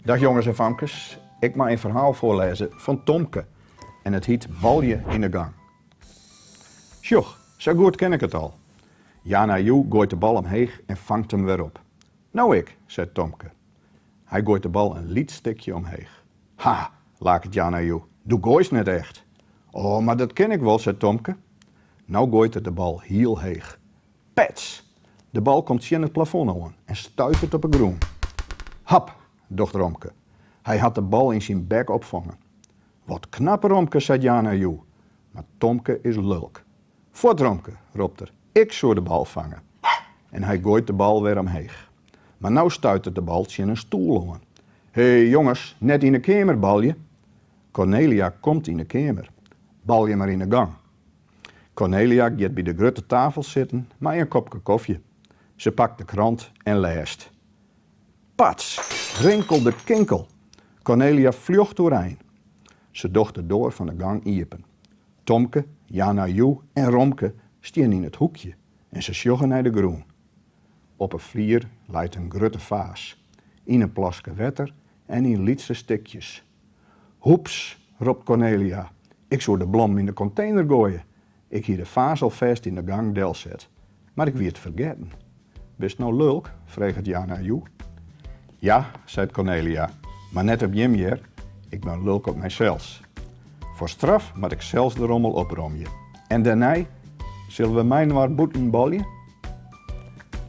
Dag jongens en famkes, ik mei in ferhaal foarlêze fan Tomke en it hiet Balje yn de gang. Sjoch, sa goed kin ik it al. Yana Yu goait de bal omheech en fangt him wer op. No ik, seit Tomke. Hy goait de bal in lyts stikje omheech. Ha, laket Yana Yu, do goaist net echt. O, mar dat kin ik wol, seit Tomke. No goait er de bal hiel heech. Pets! De bal komt tsjin it plafon oan en stuitert op 'e grûn. Hap! docht Romke. Hy hat de bal yn syn bek opfongen. Wat knap Romke, seit Yana Yu. Mar Tomke is lulk. Fuort Romke, ropt er, ik soe de bal fange. En hy goait de bal wer omheech. Mar no stuitert de bal tsjin in stoel oan. He, jonges, net yn 'e keamer balje! Kornelia komt yn 'e keamer. Balje mar yn 'e gong, Kornelia giet by de grutte tafel sitten mei in kopke kofje. Se pakt de krant en lêst. Pats! Rinkeldekinkel! Kornelia fljocht oerein. Se docht de doar fan de gong iepen. Tomke, Yana Yu en Romke stean yn it hoekje en se sjogge nei de grûn. Op 'e flier leit in grutte faas, yn in plaske wetter en yn lytse stikjes. Hoeps! ropt Kornelia, ik soe de blommen yn de kontener goaie. Ik hie de faas alfêst yn de gong delset, mar ik wie it fergetten. Bist no lulk? freget Yana Yu. Ja, seit Kornelia, mar net op jim hear, ik bin lulk op mysels. Foar straf moat ik sels de rommel opromje. En dêrnei, sille we mei-inoar bûten balje?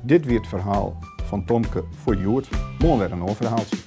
Dit wie it ferhaal fan Tomke foar hjoed. Moarn wer in oar ferhaaltsje.